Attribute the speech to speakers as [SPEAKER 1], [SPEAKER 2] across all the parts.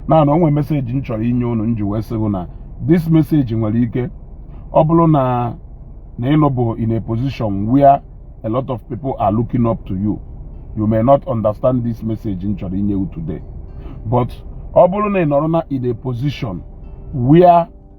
[SPEAKER 1] na na o nwe message m chọrọ inye unu m ji wee sị gị na this message nwere ike ọ bụrụ na na ị nọbụ in a position where a lot of people are looking up to you you may not understand this message m chọrọ inye you today but ọ bụrụ na ị nọrọ na in a position where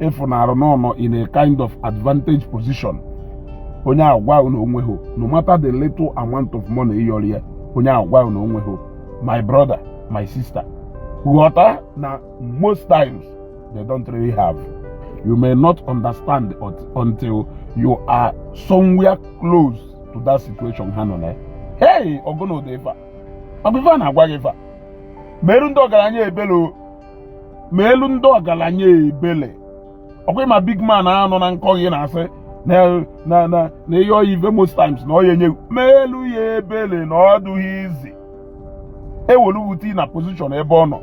[SPEAKER 1] ị fụnarụ na ọ nọ in a kind of advantage position onye ahụ gwa gị na o nwehị no matter the little amount of money ị yọrọ ya onye ahụ gwa gị na o nwehị my brother my sister ghọta na most times they don't really have you may not understand until you are somewhere close to that situation ha nọ na ya hey ọ gụnụ dị ife a ọ bụ ife a na-agwa gị ife a meerụ ndị ọgaranya ebele o meelụ ndị ọgaranya ebele ọ kwa ị ma big man a nọ na nke gị na-asị na ị yọọ ya ive most times na ọ ya enyehụ meelụ ya ebele na ọ dụghị easy e were gụ tii na position ebe ọ nọ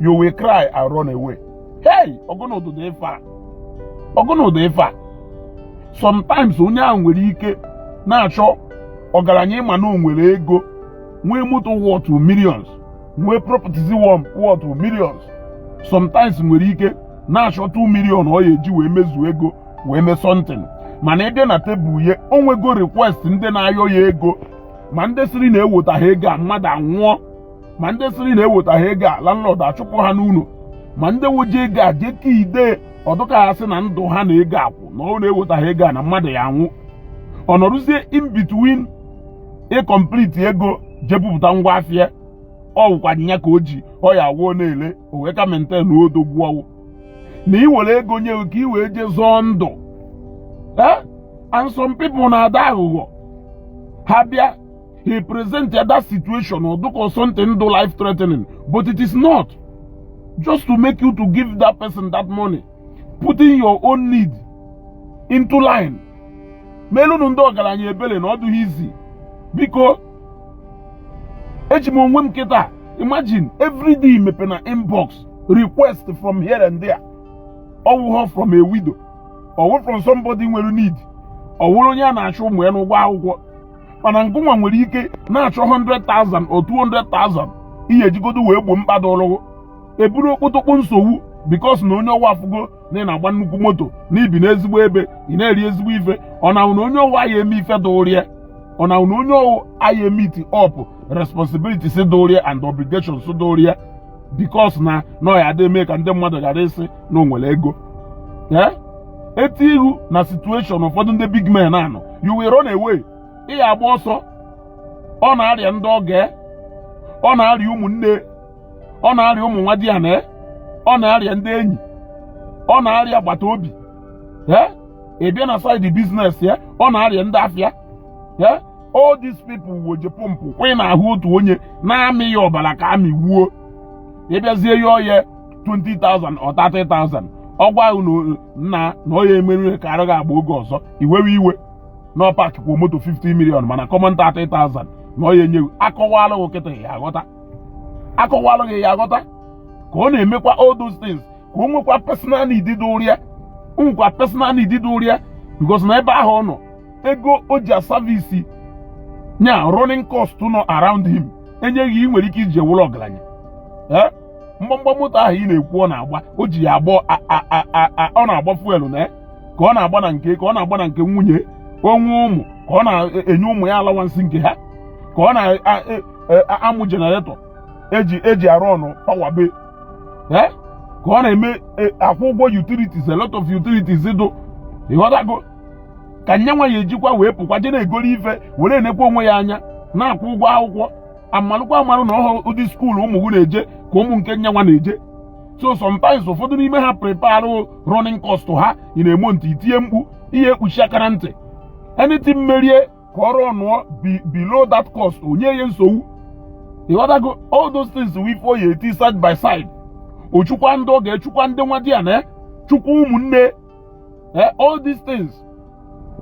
[SPEAKER 1] you will cry and run away hey ọ gụnụ dụ dị ife a ọ gụnụ dụ ife a sometimes onye ahụ nwere ike na-achọ ọgaranya ị ma na o nwere ego nwee moto worth millions nwee properties worth millions sometimes nwere ike na-achọ 2 million ọ ya eji wee mezuo ego wee mee something mana ebe na tebụl ya o nwego request ndị na-ayọ ya ego ma ndị sịrị na ewetaha ego a mmadụ anwụọ ma ndị sịrị na ewetaha ego a landlord achụpụ ha n'ụlọ ma ndị woji ego a jee ka ide ọ dụka ha sị na ndụ ha na ego a kwụ na ọ na ewetaha ego a na mmadụ ya anwụ ọ nọrụzie in between ị complete ego je bupụta ngwa afịa ọ wụkwa ya ka o ji ọ ya awụ ọ na-ele o wee ka maintain odogwu ọ wụ na ị were ego nye gụ ka ị wee jee zọọ ndụ eh? and some people na-ada aghụghọ ha bịa i present that situation ọ dụka something dụ life threatening but it is not just to make you to give that person that money putting your own need into line meelụnụ ndị ọgaranya ebele na ọ dụghị easy because eji m onwe m kịta imagine everyday mepe na inbox request from here and there ọ wụghọ from a widow ọ wụrụ from somebody nwere need ọ wụrụ onye a na-achọ ụmụ ya n'ụgwọ akwụkwọ mana ngụnwa nwere ike na-achọ 100,000 or 200,000 ị ya ejigodo wee gboo mkpa dụrụ gụ eburu okpotokpo nsogbu because na onye ọwa afụgo na ị na-agba nnukwu moto na i bi n'ezigbo ebe ị na-eri ezigbo ife ọ na na onye ọwa ya eme ife dụrịa ọ na na onye ọwa ya emeet up responsibilities dụrịa and obligations dụrịa because na na ọ ya adị eme ka ndị mmadụ ghara ịsị na o nwere ego ee e tii gị na situation ụfọdụ ndị big men a nọ you will run away ị ya agba ọsọ ọ na-arịa ndị ọgọ ọ na-arịa ụmụnne ọ na-arịa ụmụ nwadiana ọ na-arịa ndị enyi ọ na-arịa agbata obi ee ị bịa na side business ya ọ na-arịa ndị afịa ee all these people wee je pọmpụ kwa ị na-ahụ otu onye na-amị ya ọbara ka amị wuo ị bịazie yọọ ya 20,000 or 30,000 ọ gwa gị na na ọ ya emerụ ka arụ gị agba oge ọzọ i wewe iwe na ọ park kwa moto 50 million mana common 30,000 na ọ ya enye gị a kọwalụ gị kịta ị ya aghọta a kọwalụ gị ị ya aghọta ka ọ na-emekwa all those things ka o nwekwa personal need dụrịa o nwekwa personal need dụrịa because na ebe ahụ ọ nọ ego o ji aservice nya running cost nọ around him e nye gị ị nwere ike iji ya wụrụ ọgaranya eh? mgbamgba moto ahụ ị na-ekwu ọ na-agba o ji ya agba ọ na-agba fuel na eh? ka ọ na-agba na nke ka ọ na-agba na nke nwunye o nwee ụmụ ka ọ na-enye ụmụ ya allowance nke ha ka ọ na e, e, amụ generator e ji e ji arun power be ka ọ na-eme e, akwụ ụgwọ utilities a lot of utilities dụ ịghọtago ka nyanwa ya ejikwa wee pụkwa je na-egoro ife were enekwa onwe ya anya na-akwụ ụgwọ akwụkwọ a malụkwa amalụ na ọ wụhọ ụdị school ụmụ gị na-eje ka ụmụ nke nyanwa na-eje so sometimes ụfọdụ n'ime ha prepare running cost ha ị nụ amount i tie mkpu i kpuchie aka na ntị anything mere ya ka ọ runuo below that cost o nye ya nsogbu ịghọtago all those things we for ya eti side by side o chukwa ndị ọgọ ya chukwa ndị nwadiana chukwa ụmụnne eh, all these things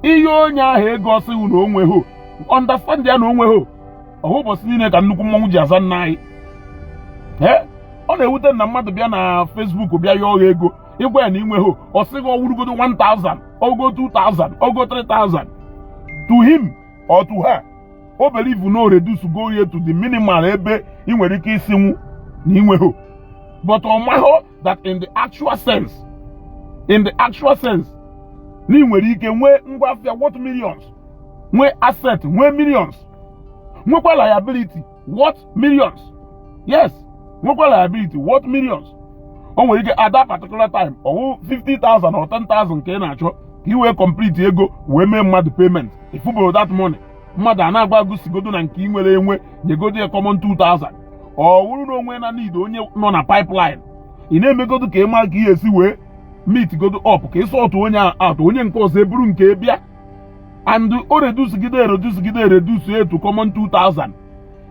[SPEAKER 1] ị yọọ onye ahụ ego ọ sị gị na o nwehọ understand ya na o nwehọ ọ wụhọ ụbọchị niile ka nnukwu mmọnwụ ji aza nna anyị eh, ọ na-ewute na mmadụ bịa na Facebook bịa yọọ gị ego ị gwa ya na i nwehọ ọ sị gị ọ wụrụgodo 1000 ogo 2000 ogo 3000 to him or to her o believe na ọ reducego ya to the minimal ebe ị nwere ike ịsịnwu na i nwehọ but ọ mahụ that in the actual sense in the actual sense na ị nwere ike nwee ngwa afịa worth millions nwee asset nwee millions nwekwa liability worth millions yes nwekwa liability worth millions o nwere ike at that particular time ọ wụ 50,000 or 10,000 ka ị na-achọ ka ị wee complete ego wee mee mmadụ payment i fuboro that money mmadụ a na-agwa ghụ sigodo na nke ị nwere enwe nyegodo ya common 2000 ọ wụrụ na onwe na need onye nọ na pipeline ị na-emegodo ka ị mara ka ị esi wee meet godo up ka ị sort onye a out onye nke ọzọ eburu nke bịa and o reducegide reducegide reduce to common 2000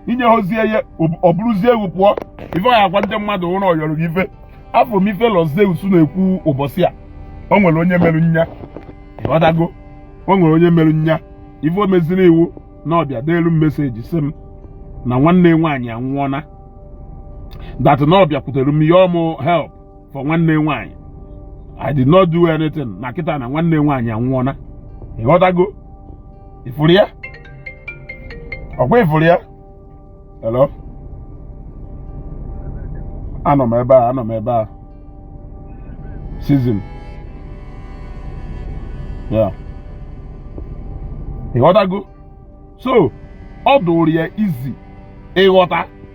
[SPEAKER 1] i nyehozie ya o buruzie egwu pụọ ife ọ ya-agwa ndị mmadụ wụ na ọ yọrọ gị ife afụ m ife Lord Zeus na-ekwu ụbọchị a o nwere onye mere nya ịghọtago o nwere onye mere nya ife o meziri wụ na ọ bịa deelu m message sị m na nwanne nwaanyị anwụọna that na ọ bịakwutere m yọọ mụ help for nwanne nwaanyị I did not do anything na kịta na nwanne nwaanyị anwụọna ịghọtago ị fụrụ ya ọ kwa ị fụrụ ya hello anọ m ebe a anọ m ebe a season yeah ịghọtago so ọ dịrọ easy ịghọta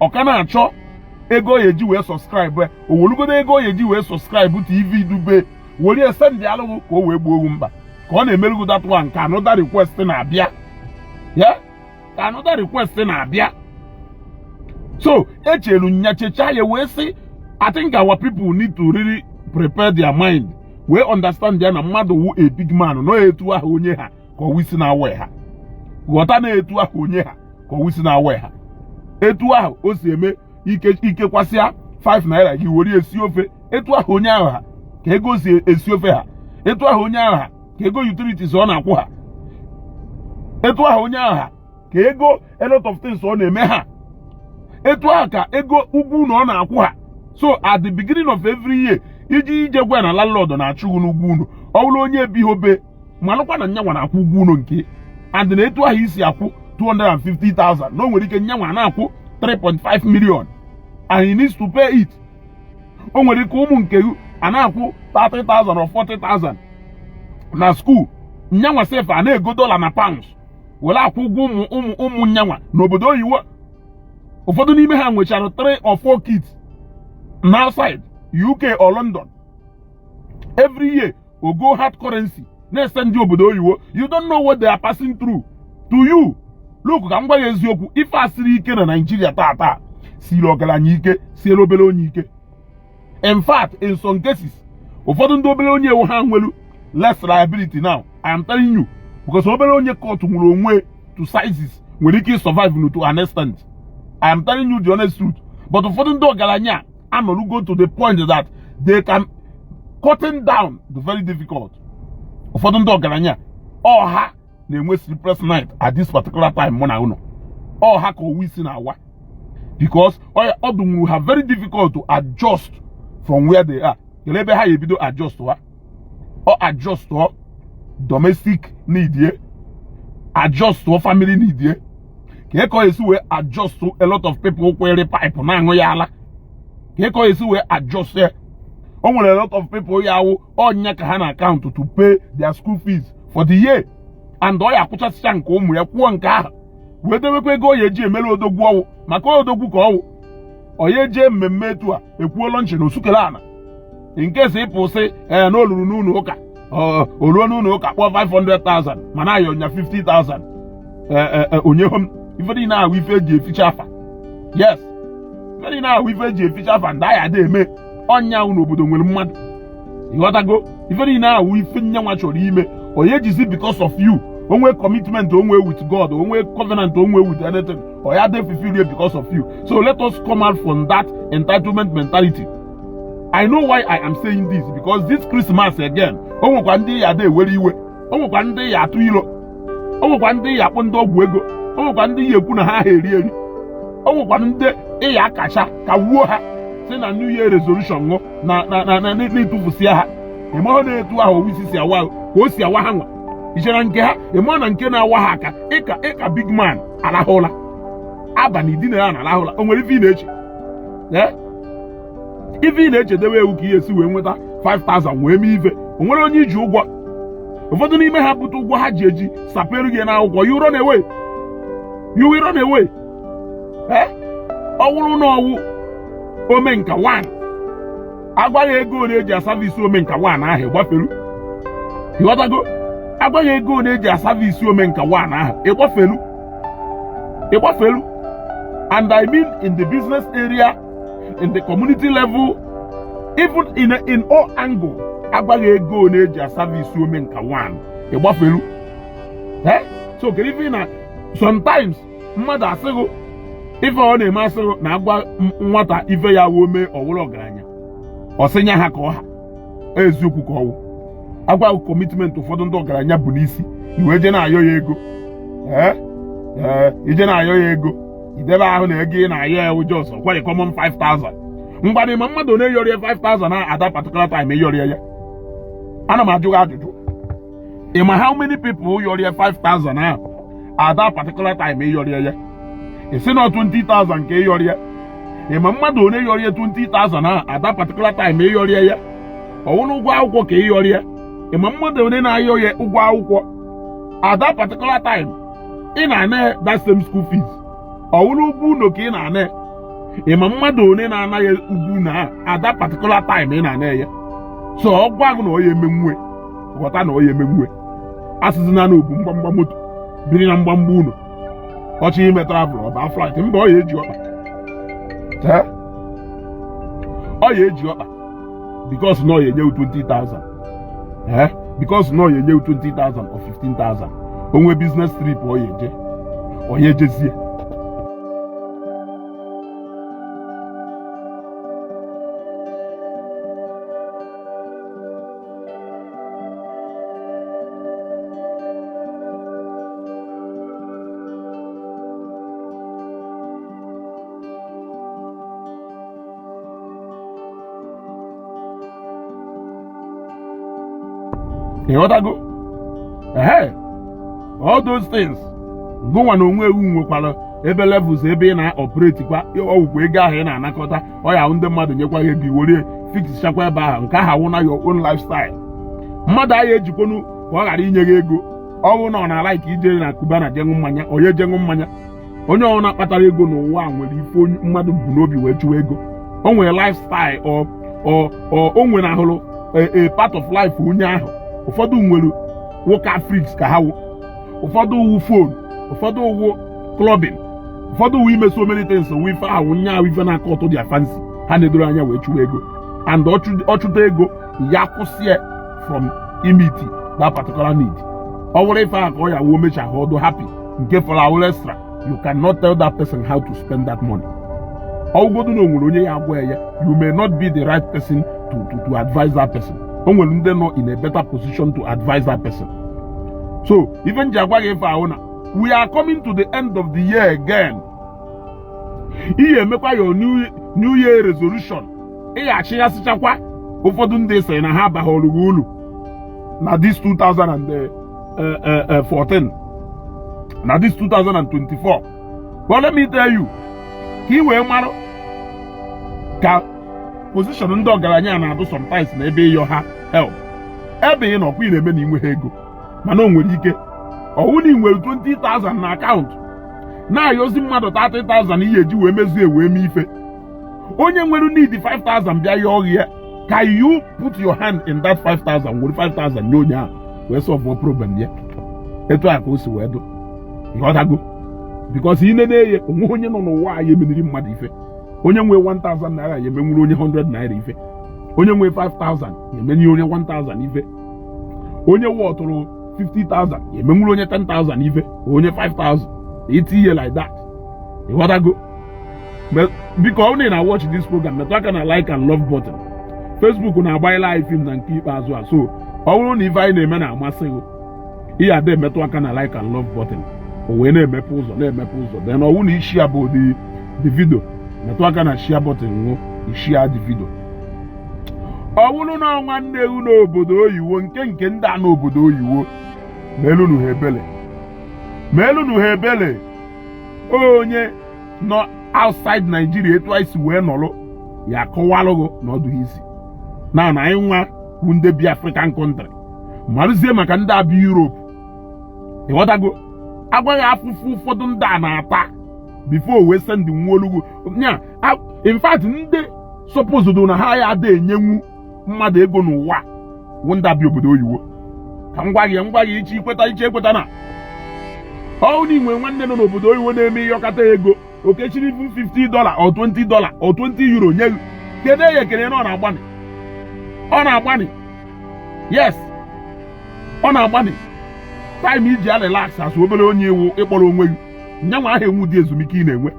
[SPEAKER 1] ọ ka na-achọ ego ọ ya-eji wee subscribe ya o welugodo ego ọ ya-eji wee subscribe tv dobe were ya sendịalụ ghụ ka o wee gboo ghụ mkpa ka ọ na-emelụ ghụ that one ka another request na-abịa ya ka another request na-abịa so echelu nya checha ya wee sị I think our people need to really prepare their mind wee understand ya na mmadụ wụ a big man na ọ etu ahụ onye ha ka ọwa isi na-awa ha ghọta na etu ahụ onye ha ka ọwa isi na-awa ha etu ahụ o si eme ike ikekwasịa 5 naira gị were esi ofe etu ahụ onye ahụ ha ka ego si esi ofe ha etu ahụ onye ahụ ha ka ego utilities ọ na-akwụ ha etu ahụ onye ahụ ha ka ego a lot of things ọ na-eme ha etu ahụ ka ego ụgwọ ụnọ ọ na-akwụ ha so at the beginning of every year iji ije gwa na landlord na-achụ ghụ n'ụgwọ ụnọ ọ bụrụ onye ebiho be malụkwa na nyanwa na-akwụ ụgwọ ụnọ nke and na etu ahụ i si akwụ 250,000 na o nwere ike nyanwa na-akwụ 3.5 million and he needs to pay it o nwere ike ụmụ nke ghụ a na-akwụ 30,000 or 40,000 na school nyanwa sef a na-ego dollar na pounds were akwụ ụgwọ ụmụ ụmụ ụmụ nyanwa n'obodo oyiwo ụfọdụ n'ime ha nwechara 3 or 4 kids na outside UK or London every year ogo hard currency na-ese ndị obodo oyiwo you don't know what they are passing through to you look ka m gwa ya eziokwu ife a siri ike na Naịjirịa taata siri ọgaranya ike siere obere onye ike in fact in some cases ụfọdụ ndị obere onye ọ wụ ha nwelu less liability now I am telling you because obere onye cut nwere onwe to sizes nwere ike survive to an extent I am telling you the honest truth but ụfọdụ ndị ọgaranya anọrugo to the point that they can cutting down dị very difficult ụfọdụ ndị ọgaranya ọ ha na-enwe sleepless night at this particular time mụ na unu ọ ha ka owu isi na-awa because ọ dụnwuru ha very difficult to adjust from where they are kelee ebe ha ya ebido adjust ha ọ adjustụọ domestic need ye adjustụọ family need ye kee ka ọ esi wee adjustụ a lot of people kwere pipe na-aṅụ ya ala kee ka ọ esi wee adjust ya o nwere a lot of people ya awụ ọ nya ka ha na-akaụntụ to pay their school fees for the year and ọ ya akwụchasịcha nke ụmụ ya kwụọ nke ha wee debekwa ego ọ ya eji emere odogwu ọ wụ maka odogwu ka ọ wụ ọ ya eje mmemme etu a e kwuo launch na osukele ana nke si ịpụ sị ee na o luru n'ụlọ ụka o ruo n'ụlọ ụka kpọọ 500,000 mana a yọọ nya 50,000 o nyehọ m ife niile ahụ ife eji eficha afa yes ife niile ahụ ife eji eficha afa ndị ahịa dị eme ọnya ahụ n'obodo nwere mmadụ ịghọtago ife niile ahụ ife nyanwa chọrọ ime onye jizi because of you o nwe commitment o nwe with God o nwe covenant o nwe with anything ọ ya dey fulfilled here because of you so let us come out from that entitlement mentality i know why i am saying this because this christmas again o nwekwa ndị ị ya dị ewere iwe o nwekwa ndị ị ya atụ ilo o nwekwa ndị ị ya akpọ ndị ọgwụ ego o nwekwa ndị ị ya ekwu na ha ha eri eri o nwekwa ndị ị ya akacha kawuo ha sị na new year resolution wụ na na na na na-etufusịa ha ị mahụ na etu ahụ owu isi si awa ka o si awa ha nwa i chere nke ha ị mahụ na nke na-awa ha aka ịka ịka big man arahụ ụra abalị i dinara na-arahụ ụra o nwere ife ị na-eche ee ife ị na-echedewe wụ ka ị ya esi wee nweta 5000 wee mee ife o nwere onye i ji ụgwọ ụfọdụ n'ime ha bute ụgwọ ha ji eji sapere gị n'akwụkwọ you run away you will run away ee ọ wụrụ na ọ wụ omenka 1 a gwa gị ego ole e ji asavisi omenka 1 ahụ ị gbafelu ị ghọtago a gwa gị ego ole e ji asavisi omenka 1 ahụ ị gbafelu ị gbafelu and i mean in the business area in the community level even in, in all angle a gwa gị ego ole e ji asavisi omenka 1 ị gbafelu so kedu ife na sometimes mmadụ asịghị ife ọ na-eme asịghị na agwa nwata ife ya wuo mee ọ wụrụ ọgaranya ọ sị nya ha ka ọ ha eziokwu ka ọ wụ a gwa commitment ụfọdụ ndị ọgaranya bu n'isi i wee je na-ayọ ya ego ee ee ije na-ayọ ya ego idebe ahụ na ego ị na-ayọ ya ụjọ ọsọ kwarị common 5000 mbanụ ị ma mmadụ one yọrọ ya 5000 ahụ at that particular time ị yọrọ ya ana m ajụ gị ajụjụ ị ma how many people yọrọ ya 5000 ahụ at that particular time ị yọrọ ya ị sị na 20000 ka ị yọrọ ya ị ma mmadụ one yọrọ ya 20000 ahụ at that particular time ị yọrọ ya ọ wụrụ ụgwọ akwụkwọ ka ị yọrọ ya ị ma mmadụ one na-ayọ ya ụgwọ akwụkwọ at that particular time ị na-ana ya that same school fees ọ wụrụ ụgwọ ụlọ ka ị na-ana ya ị ma mmadụ one na-ana ya ụgwọ ụnọ at that particular time ị na-ana ya so ọ gwa gị na ọ ya emenwu ghọta na ọ ya emenwu asịzina na o bu mgbamgba moto biri na mgbamgba ụlọ ọ chọọ ime travel ọ ba flight mba ọ ya eji ọkpa ọ ya eji ọkpa because na ọ ya enye wụ 20,000 ee because na ọ ya enye wụ 20,000 or 15,000 o nwee business trip ọ ya eje ọ ya ejezie ịghọtago ee all those things gụnwa na onwe wụ nwekwara ebe levels ebe ị na-operate kwa ọ wụkwa ego ahụ ị na-anakọta ọ ya ndị mmadụ nyekwa gị ego i were fixchakwa ebe ahụ nke ahụ wụ na your own lifestyle mmadụ anyị ejikwonu ka ọ ghara inye gị ego ọ bụrụ na ọ na-alike ije na Cubana je ṅụọ mmanya onye je ṅụọ mmanya onye ọbụla kpatara ego n'ụwa a nwere ife mmadụ bu n'obi wee chụwa ego o nwere lifestyle o nwere ahụrụ a part of life onye ahụ ụfọdụ nwere wụ car freaks ka ha wụ ụfọdụ ọ wụ phone ụfọdụ ọ wụ clubbing ụfọdụ ọ wụ ime so many things wụ ife ahụ nya ahụ ife na-acatch their fancy ha na-edoro anya wee chụwa ego and ọ chụta ego ya kwụsịa from imeet that particular need ọ wụrụ ife ahụ ka ọ ya wuo mecha ha ọ dụ happy nke fọrọ awụrụ extra you cannot tell that person how to spend that money ọ wụgodu na o nwere onye ya agwa ya you may not be the right person to to to advise that person o nwere ndị nọ in a better position to advise that person so ife m ji agwa gị ife a wụ na we are coming to the end of the year again ihe emekwa your new year resolution ịghachi ya achịghasịchakwa ụfọdụ ndị sịrị na ha abaghọrọ gị ulu na this 2014 eh, eh, eh, na this 2024 but let me tell you ka ị wee marụ ka position ndị ọgaranya na-adụ sometimes na ebe ị yọ ha help ebe ị nọkwa ị na-eme na i nweghị ego mana o nwere ike ọ wụ na ị nwere 20,000 na account na-ayọzi mmadụ 30,000 ihe eji wee mezie wee mee ife onye nwere need 5,000 bịa yọọ gị ya can you put your hand in that 5,000 were 5,000 nye onye ahụ wee solve problem ya etu a ka o si wee dụ ị ghọtago because ị nene ya o nwe onye nọ n'ụwa a ya emeniri mmadụ ife onye nwee 1000 naira ya emenwuru onye 100 naira ife onye nwee 5000 emenye onye 1000 ife onye nwetụrụ 50,000 emenwuru onye 10,000 ife onye 5,000 eti ihe like that ị ghọtago biko ọ na watch this program metụ aka na like and love button Facebook na-agbanyela anyị film na nke ikpeazụ a so ọ bụrụ na ife anyị na-eme na-amasị gị ị ya ada emetụ aka na like and love button o wee na-emepe ụzọ na-emepe ụzọ then ọ wụ na ị share bụghị the video metụ aka na share button wee share the video ọ bụrụ na nwanne gị n'obodo oyiwo nke nke ndị a nọ obodo oyiwo meelụnụ ha ebele meelụnụ ha ebele onye nọ outside Nigeria etu anyị si wee nọrọ ya akọwalụ gị na ọ dụghị easy na na anyị nwa bụ ndị bi African country marụzie maka ndị a bi Europe ị ghọtago a gwa gị afụfụ ụfọdụ ndị a na-ata before wee sendinwuolu gị ya in fact ndị supposed na ha ya ada enyenwu mmadụ ego n'ụwa wụ ndị a bi obodo oyiwo ka m gwa gị m gwa gị iche ikweta iche ekweta na ọ wụ na i nwe nwanne nọ n'obodo oyiwo na-eme ị yọkata ego o kechiri bụ 50 dollar or 20 dollar or 20 euro nye gị kelee ya ekele na ọ na-agbanị ọ na-agbanị yes ọ na-agbanị time i ji a relax asụ obere onye ị wụ ị kpọrọ onwe gị nyanwa aha enwedị ezumike ị na-enwe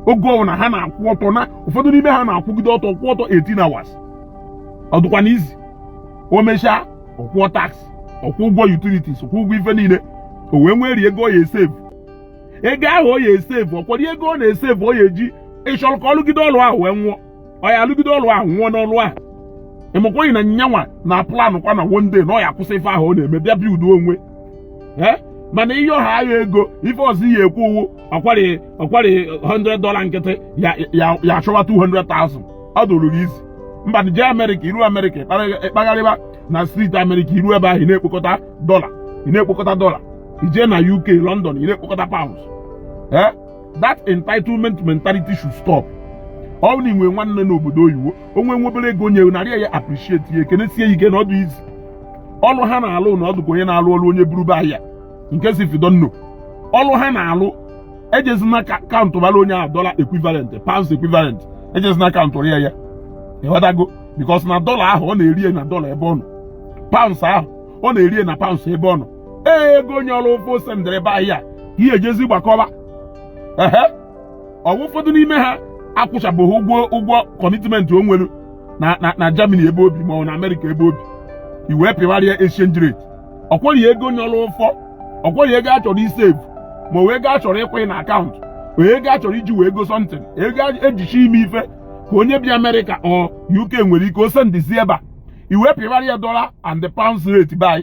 [SPEAKER 1] oge ọbụla ha na-akwụ ọtọ na ụfọdụ n'ime ha na-akwụgide ọtọ kwụ ọtọ 18 hours ọ dụkwanụ easy o mechaa ọ kwụọ tax ọ kwụọ ụgwọ utilities kwụ ụgwọ ife niile o wee nwerie ego ọ ya-esave ego ahụ ọ ya esevu ọkwado ego ọ na-esevu ọ ya eji ị chọrọ ka ọ lụgide ọlụ ahụ wee nwụọ ọ ya alụgide ọlụ ahụ nwụọ n'ọlụ ahụ ị makwaghị na nyanwa na-aplanụkwa na one day na ọ ya akwụsị ife ahụ ọ na-eme bịa buildụọ onwe ee mana ị yọwa ya ego ife ọzọ ị ya ekwu wụ ọkwari ọkwari 100 dọla nkịtị ya ya ya achọwa 200,000 ọ dụrụ gị easy ngwanụ jee amerịka i ruo amerịka ị kpagharịba na street amerịka i ruo ebe ahụ ị na-ekpokọta dọla ị na-ekpokọta dọla i jee na uk london ị na-ekpokọta pounds eh? that entitlement mentality should stop ọ bụrụ na i nwee nwanne n'obodo oyibo o nwee nwa obere ego o nye narị ya appreciate ya kenesie ya ike na ọ dị easy ọlụ ha na-alụ na ọ dụ ka onye na-alụ ọlụ onye buru be anyị nke so if you don't know ọlụ ha na-alụ ejezina kaụntụbara onye ahụ dọla equivalent pounds equivalent ejezina kaụntụrị ya ị ghọtago because na dọla ahụ ọ na-eri na dọla ebe ọ nọ pounds ahụ ọ na-eri na pounds ebe ọ nọ ee ego onye ọlụ ụfọ o sendiri be anyị ka ị ya ejezi gbakọba ehe ọ wụ ụfọdụ n'ime ha akwụchabeghị ụgwọ ụgwọ commitment o nwere na na na Germany ebe o bi ma ọ na Amerịka ebe o bi i wee pịwarị ya exchange rate ọkwọrị ego onye ọlụ ụfọ ọkwọrị ego a chọrọ isevu ma ọ wụ ego a chọrọ ịkwanye na akaụntụ ọ wụ ego a chọrọ iji wee goo something ego ejichi ime ife ka onye bi Amerịka or UK nwere ike o sendizi ebe a i wee pịwarị ya dọla and the pounds rate by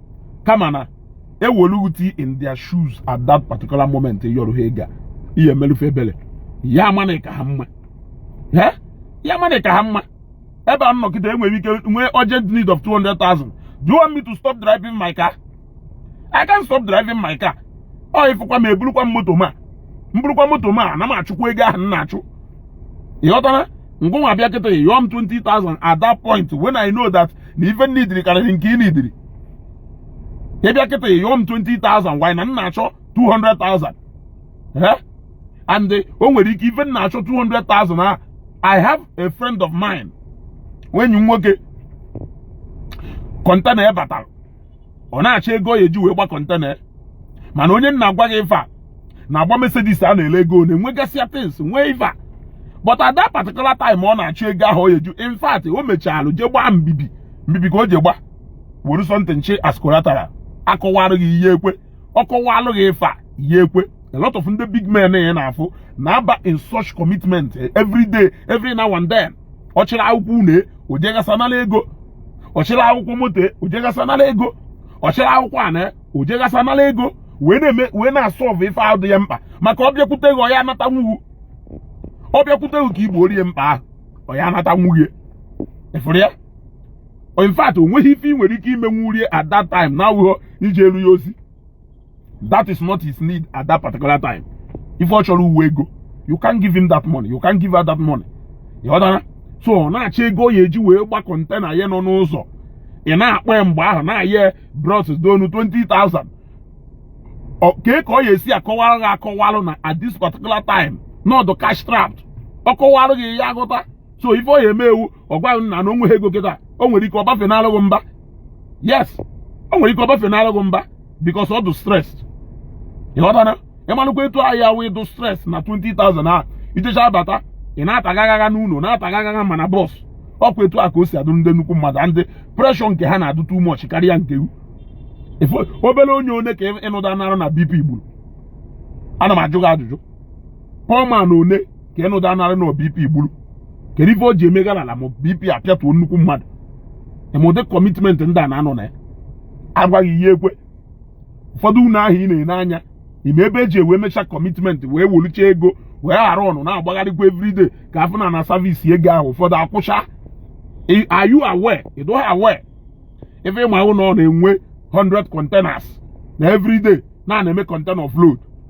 [SPEAKER 1] kama na ewoluti in their shoes at that particular moment ị yọrọ ha ego ị ya emelụ fa ebele ị ya ama na ị ka ha mma ị ya ama na ị ka ha mma ebe a m nọ kịta enwere ike nwee urgent need of 200,000 do you want me to stop driving my car I can't stop driving my car ọ ị fụkwa m eburukwa m moto m a m burukwa moto m a ana m achụkwa ego ahụ m na-achụ ị ghọtara na gị nwa bịa kịta yọọ m 20,000 at that point when I know that na ife m nidiri karịrị nke ị nidiri ị bịa kịta yọọ m 20,000 while na m na-achọ 200,000 and o nwere ike ife m na-achọ 200,000 a I have a friend of mine enyi m nwoke container ya batara ọ na-achọ ego ọ ya eji wee gba container mana onye m na-agwa gị ifa na-agba mercedes a na-ele ego o nwegasịa things nwee ifa but at that particular time ọ na-achọ ego ahụ ọ ya eji in fact o mechalụ jee gbaa mbibi mbibi ka o ji gba were something chi as collateral a kọwara gị ị ya ekwe ọ kọwalụ gị ifa ị ya ekwe a lot of ndị big men ị na-afụ na-aba in such commitment every day every now and then ọ chịrị akwụkwọ une o jegasa nala ego ọ chịrị akwụkwọ moto o jegasa nala ego ọ chịrị akwụkwọ ana o jegasa nala ego wee na-eme wee na-asọlvụ ife ahụ dị ya mkpa maka ọ bịakwute gị ọ ya anatanwughu ọ bịakwute gị ka i gboori ya mkpa ahụ ọ ya anatanwughị e efere ya in fact o nweghị ife ị nwere ike imenwuri e at that time na-awụghọ ijelu ya ozi that is not his need at that particular time ife ọ chọrọ wụ ego you can give him that money you can give her that money ị ghọtara so ọ na-achọ ego ọ ya-eji wee gba container ya nọ n'ụzọ ị na-akpọ ya mgbe ahụ na-ayọ bros donu 20,000 kee ka ọ ya-esi akọwara gị akọwalụ na at this particular time na ọ dụ cash trapped ọ kọwara gị ị ya-aghọta so ife ọ ya-eme wụ ọ gwa gị na na o nweghị ego kịta o nwere ike ọ bafenalụ gị mba yes o nwere ike ọ bafenalụ gị mba because ọ dụ stress ị ghọtana ị malụkwa etu ahịa wee dụ stress na 20,000 a ị jechaa abata ị na-atagagagha n'ụlọ na-atagagagha mana boss ọ kwa etu a ka o si adụ ndị nnukwu mmadụ ndị pressure nke ha na-adụ too much karịa nke obere onye one ka ị nụdanara na BP gburu ana m ajụ gị ajụjụ poor man one ka ị nụdanara na BP gburu kedu ife o ji emegara ala ma BP apịatuo nnukwu mmadụ ma ụdị commitment ndị a na-anọ na ya a gwa gị ị ya-ekwe ụfọdụ ụnọ ahụ ị na-ene anya ị ma ebe e ji wee mechaa commitment wee welicha ego wee ghara ọnụ na-agbagharịkwa everyday ka a fụ na a na-service ego ahụ ụfọdụ akwụcha are you aware you don't aware ife ị ma wụ na ọ na-enwe 100 containers na everyday na ọ na-eme container offload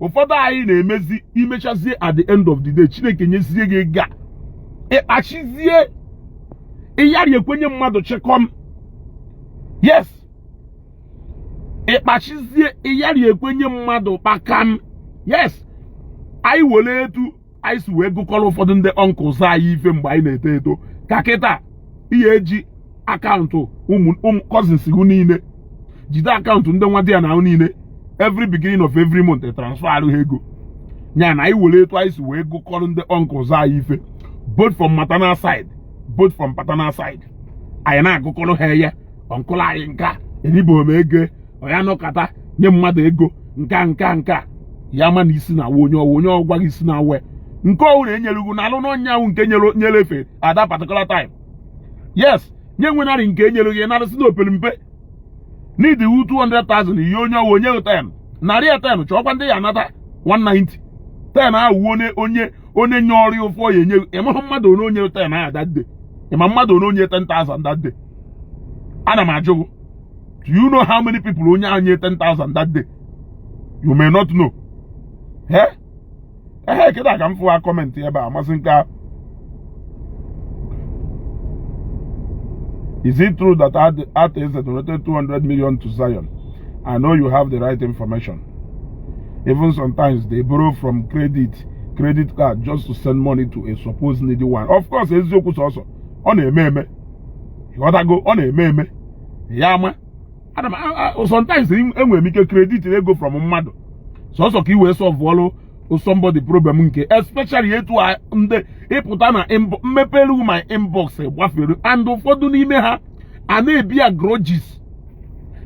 [SPEAKER 1] ụfọdụ anyị na-emezi e mechazie at the end of the day Chineke nyezie gị ego a ị kpachizie ị yarị ekwe nye mmadụ chịkọm yes ị kpachizie ị yarị ekwe nye mmadụ kpakam yes anyị were etu anyị si wee gụkọrọ ụfọdụ ndị uncles anyị ife mgbe anyị na-eto eto ka kịta ị ya-eji account ụmụ cousins gị niile jide account ndị nwadiana ahụ niile every beginning of every month e transfer ha ego ya na anyị were etu anyị si wee gụkọrọ ndị uncles anyị ife both from maternal side both from paternal side anyị na-agụkọrọ ha ya uncle anyị nka enyibeghị m ego ọ ya-anọkata nye mmadụ ego nka nka nka ya ma na isi na-awa onye ọ wa onye ọ gwa gị isi na-awa nke ọ wụ na enyelugo na alụ n'ọnya ahụ nke nyere efe at that particular time yes nye nwenarị nke e nyelụ gị narịsị na opere mpe need wụ 200,000 ihe onye ọ wụ o nye ten narị ya ten chọọkwa ndị ị ya-anata 190 ten ahụ onye onye onye nye ọrụ ife ọ ya-enye ị mahụ mmadụ one o nye ten ahụ that day ị ma mmadụ one o nye 10,000 that day ana m ajụ do you know how many people onye ahụ nye 10,000 that day you may not know ee ehe kịta ka m fụwa comment ebe a Mazi Ike Is it true that Arthur Eze donated 200 million to Zion? I know you have the right information. Even sometimes they borrow from credit credit card just to send money to a supposed needy one. Of course, eziokwu sọsọ ọ na-eme eme. Ị ghọtago ọ na-eme eme. ya ama ana m sometimes enwere m ike credit ego from mmadụ sọsọ ka i wee solvụọlụ somebody problem nke especially etu ndị ịpụta na m mepere my inbox gbafere and ụfọdụ n'ime ha a na-ebear grudges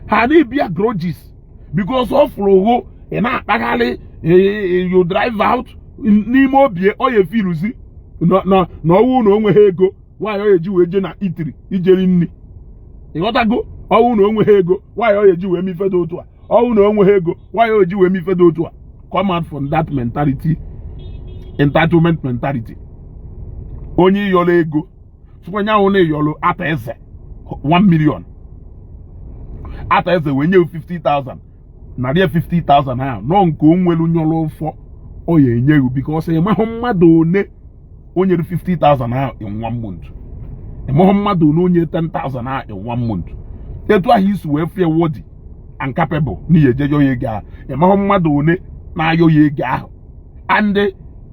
[SPEAKER 1] ha na-ebear grudges because ọ fụrụ ghụ ị na-akpagharị you drive out n'ime obi ọ ya efeeluzi na ọ wụ na o nweghị ego why o ji wee jee na eatery ije eri nri ịghọtago ọ wụ na o nweghị ego why o ji wee mee ife dị otu a ọ wụ na o nweghị ego why o ji wee mee ife dị otu a come out from that mentality entitlement mentality onye ị yọrọ ego sụkwanye ahụ na ị yọrọ Arthur Eze 1 million Arthur Eze wee nye 50,000 narị 50,000 ahụ na ọ nke o nwere nyọrọ ụfọ ọ ya enye gị because ị mahụ mmadụ one o nyere 50,000 ahụ in one month ị mahụ mmadụ one o nyere 10,000 ahụ in one month etu ahụ i si wee feel worthy and capable na ị ya-eje yọọ ya ego ahụ ị mahụ mmadụ one na-ayọ ya ego ahụ and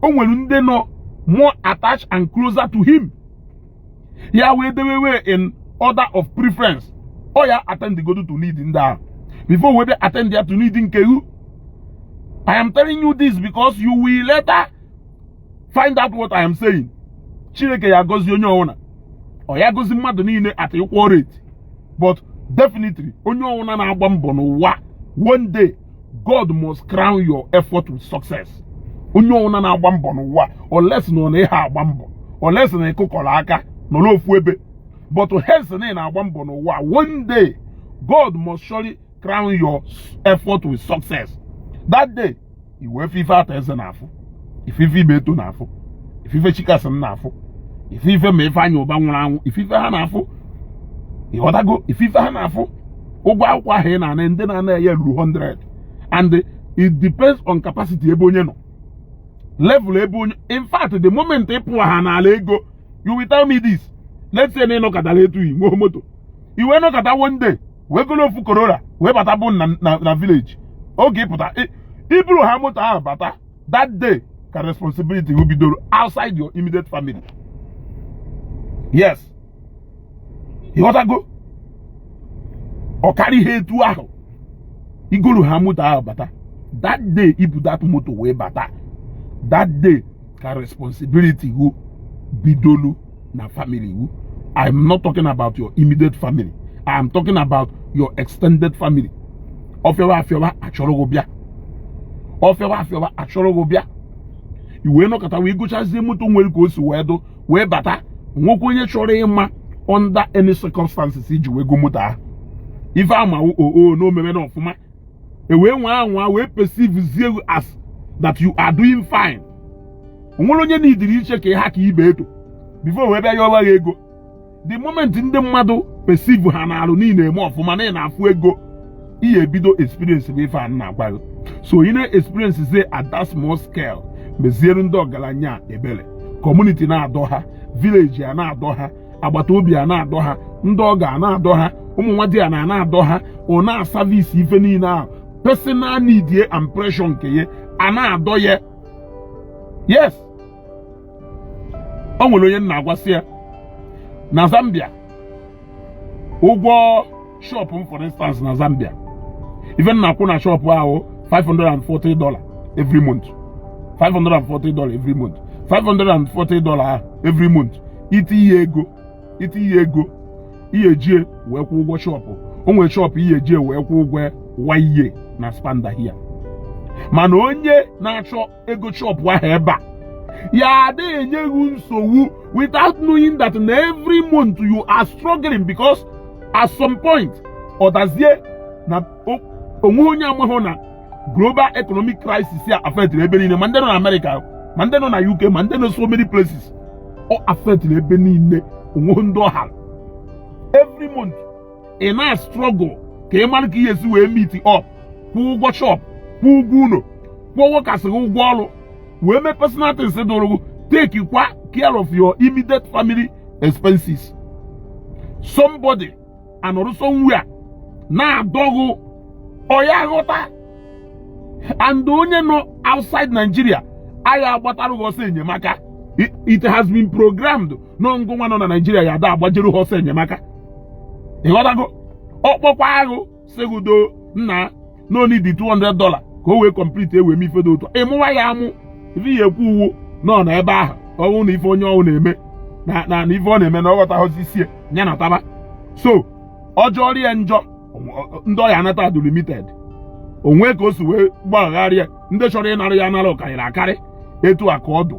[SPEAKER 1] o nwere ndị nọ more attached and closer to him ya wee dewewe in order of preference ọ ya attend godu to need ndị ahụ before wee bịa attend ya to need nke ghụ I am telling you this because you will later find out what I am saying Chineke ya gozi onye ọwụna ọ ya gozi mmadụ niile at equal rate but definitely onye ọwụna na-agba mbọ n'ụwa one day God must crown your effort with success onye ọwụna na-agba mbọ n'ụwa unless na ọ na ịha agba mbọ unless na ị kụkọrọ aka nọrọ ofu ebe but hence na ị na-agba mbọ n'ụwa one day God must surely crown your effort with success that day i wee fụ ife Arthur Eze na-afụ ị fụ ife Ibeto na-afụ ị fụ ife Chicason na-afụ ị fụ ife ma Ifeanyi Ubah nwụrụ anwụ ị fụ ife ha na-afụ ịghọtago ị fụ ife ha na-afụ ụgwọ akwụkwọ ahụ ị na-ana ndị na-ana ya ruru 100 and it depends on capacity ebe onye nọ level ebe onye in fact the moment ị pụwa ha n'ala ego you will tell me this let's say na ị nọkatara etu i nwee moto i wee nọkata one day wee goro ofu Corolla wee bata bụ na village oge ị pụta i buruha moto ahụ bata that day ka responsibility ghụ bidoro outside your immediate family yes ịghọtago ọ karị ihe etu ahụ i goroha moto ahụ bata that day i bu that moto wee bata that day ka responsibility wu bidolu na family wu I am not talking about your immediate family I am talking about your extended family ọ fịawa a chọrọ gị bịa ọ fịawa a chọrọ gị bịa i wee nọkata wee gochazie moto nwere ka o si wee dụ wee bata nwekwa onye chọrọ ịma under any circumstances i ji wee go moto ahụ ife a ma wụ oo na omeme na ọfụma e wee nwee anwa wee perceive zie ghụ as that you are doing fine o nwere onye na idiri iche ka ha ka ibe eto before wee bịa yọwa ghị ego the moment ndị mmadụ perceive ha na-arụ na ị na-eme ọfụma na ị na-afụ ego ị ya-ebido experience bụ ife a m na-agwa gị so ị na-experience zie at that small scale meziere ndị ọgaranya ebere kọmuniti na-adọ ha vileji a na-adọ ha agbata obi a na-adọ ha ndị ọgọ a na-adọ ha ụmụ nwadiana a na-adọ ha ọ na-asavisi ife niile ahụ personal need ye and pressure nke ya a na-adọ ya yes o nwere onye m na-agwa sị ya na Zambia ụgwọ shọpụ m for instance na Zambia ife m na-akwụ na shọpụ ahụ 540 dollar every month 540 dollar every month 540 dollar every month i tiye ego i tiye ego ị ya-eji wee kwụ ụgwọ shọpụ o nwere shọpụ ị ya-eji wee kwụ ụgwọ wa ị ya na-expand ahịa mana onye na-achọ ego shọpụ ahụ ebe a ya ada enye ghị nsogbu without knowing that na every month you are struggling because at some point ọ dazie na o nwe onye amahụ na global economic crisis a affectiri ebe niile ma ndị nọ na Amerịka ma ndị nọ na UK ma ndị nọ so many places ọ affectiri ebe niile o nwehụ ndị ọ hara every month ị na-astrọgụl ka ị mara ka ị ya-esi wee meet up kwụ ụgwọ shọp kwụ ụgwọ ụlọ kwụọ workers ghị ụgwọ ọrụ wee mee personal things dụrụ gị take kwa care of your immediate family expenses somebody anọrụ somewhere na-adọ ghụ ọ ya-aghọta and onye nọ outside Nigeria a ya-agbatara ghụ ọsọ enyemaka it has been programmed na ngụnwa nọ na Nigeria ya ada agbajere ọsọ enyemaka ịghọtago ọ kpọkwa ghụ sị gụ do nna na ọ need 200 dollar ka o wee complete e wee mee ife dị otua ị mụwa ya amụ ife ị ya-ekwu wụ nọ na ebe ahụ ọ nọ na ife onye ọwụ na-eme na na ife ọ na-eme na ọ ghọtaghọzi ị sị ya nataba so ọ jọrie njọ ndị ọ ya-anata adụ limited o nwe ka o si wee gbagharịa ndị chọrọ ịnara ya anara ọ karịrị akarị etu a ka ọ dụ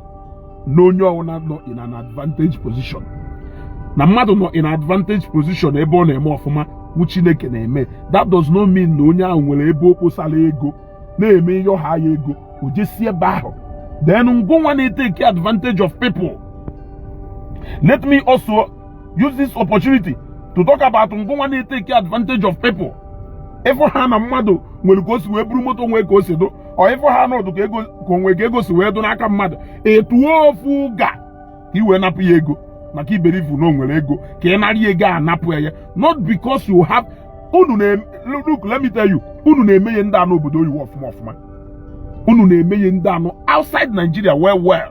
[SPEAKER 1] n'onye ọwụna nọ in an advantage position na mmadụ nọ in advantage position ebe ọ na-eme ọfụma wụ Chineke na-eme that does not mean na onye ahụ nwere ebe o kposara ego na-eme ị yọha ya ego o jesi ebe ahụ then ngụnwa na-etake advantage of people let me also use this opportunity to talk about ngụnwa na-etake advantage of people ị fụha na mmadụ nwere ka o si wee buru moto nwee ka o si dụ ọ ị fụha na ọ dụ ka ego ka o nwe ka ego si wee dụ n'aka mmadụ etuo ofu ga ka i wee napụ ya ego maka i believe na o nwere ego ka ị narị ya ego anapụ ya not because you have unu na look let me tell you unu na-eme ya ndị a nọ obodo oyibo ọfụma ọfụma unu na-eme ya ndị a nọ outside Nigeria well well